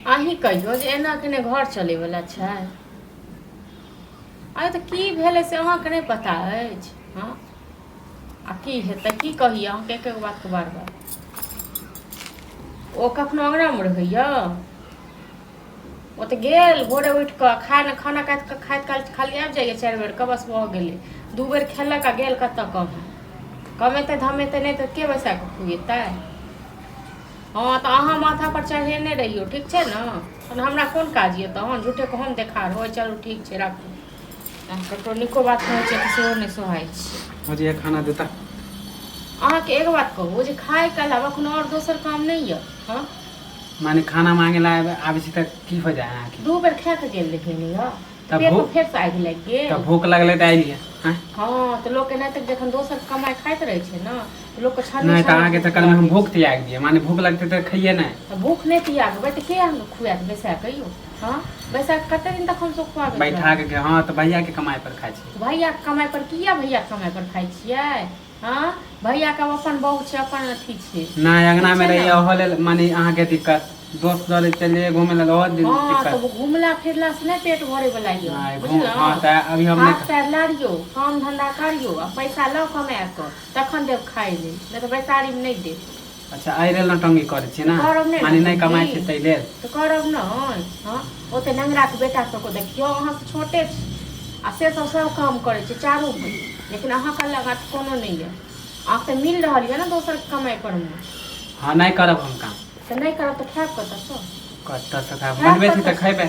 अहीं कहियौ जे एना के ने घर चले वाला छै अरे तऽ की भेलै से अहाँके नहि पता अछि हँ आ की हेतै की कही अहाँके एक एक बातके बार बार ओ कखनो अङ्गनामे रहैया ओ तऽ गेल भोरे उठि कऽ खाय ने खाना खाइत खाइत खाइत खाली आबि जाइए चारि बेरके बस भऽ गेलै दू बेर खेलक आ गेल कतऽ कम कमेतै धमेतै नहि तऽ के बैसा कऽ खुएतै हँ तऽ अहाँ माथा पर चढ़ेने रहियौ ठीक छै ने तहन हमरा कोन काज यऽ तहन झूठे के हम देखार हो चलू ठीक छै राखू ककरो नीको बात कहै छै तऽ सेहो नहि सोहाइ छै मुझे ये खाना देता अहाँके एगो बात कहू जे खाय के अलावा कोनो आओर दोसर काम नहि यऽ हँ माने खाना मांगे ला आबे- आबे छी तऽ की हो जाए अहाँके दू बेर खा के गेल रहियै ने यौ तब पेट भूख फेर से आबि गेलै के तब भूख लगलै तऽ आइलियै आँय? हँ तऽ लोकके नहि तऽ जखन दोसर कमाइ खाइत रहै छै ने तऽ लोकके छान नहि तऽ अहाँके चक्कर मे हम भूख त्याग दियै माने भूख लगतै तऽ खैयै नहि तऽ भूख नहि तियागबै तऽ के अहाँके खुआएत बैसा कऽ यौ हँ बैसा कऽ कतेक दिन तक हमसभ खुआबै बैठा के हँ तऽ भैया के कमाई पर खाइ छी भैयाके कमाइ पर किया भैयाके कमाइ पर खाइ छियै हां भैया के अपन बहू छै अपन अथी छै नहि अंगना में रहिए ओहो लेल माने अहाँ के दिक्कत दोस्त लगे चल जाइए घूमे लेल ओहो दिन हां दिक्कत तो घुमला फिरला से नहीं पेट भरे वाला ये नहीं, घूम- बुझलौ हाँ, तऽ अभी हम हाथ नहि- पैर लारियो काम धंधा करियो आ पैसा लाओ कमा के तखन देब खाए ले नहीं तो बैसारी में नहीं देब अच्छा एहि लेल नौटंगी करै छियै ने करब नहि माने नहि कमाइ छै ताहि लेल तऽ करब नहि हँ ओते नंगराके बेटा सबके देखियौ अहाँ तऽ छोटे छी आ से सब सब काम करै छै चारू भाई लेकिन अहाँके अलग हाथ कोनो नहि यऽ अहाँ तऽ मिल रहल यऽ ने दोसर कमाइ पर मे हँ नहि करब हम काम तऽ नहि करब तऽ खायब कतऽसँ कतऽसँ खायब खायब बनबै छी तऽ कतऽसँ? खयबै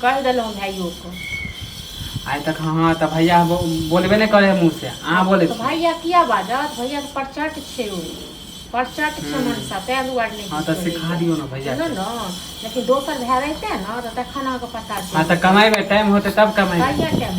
कहि देलहुँ भाइयोके आइ तक हँ हँ तऽ भैया बोलबे नहि करे है मुँह से अहाँ बोले भैया किया बाजत भैया के प्रचट छै ओ प्रचट छै हम्म। मनसा तै दुआर नहि हँ तऽ सिखा दियौ ने भैया ने ने लेकिन दोसर भए रहते ने तऽ तखन अहाँके पता छै हँ तऽ कमेबै टाइम होतै तब कमेबै भैया टाइम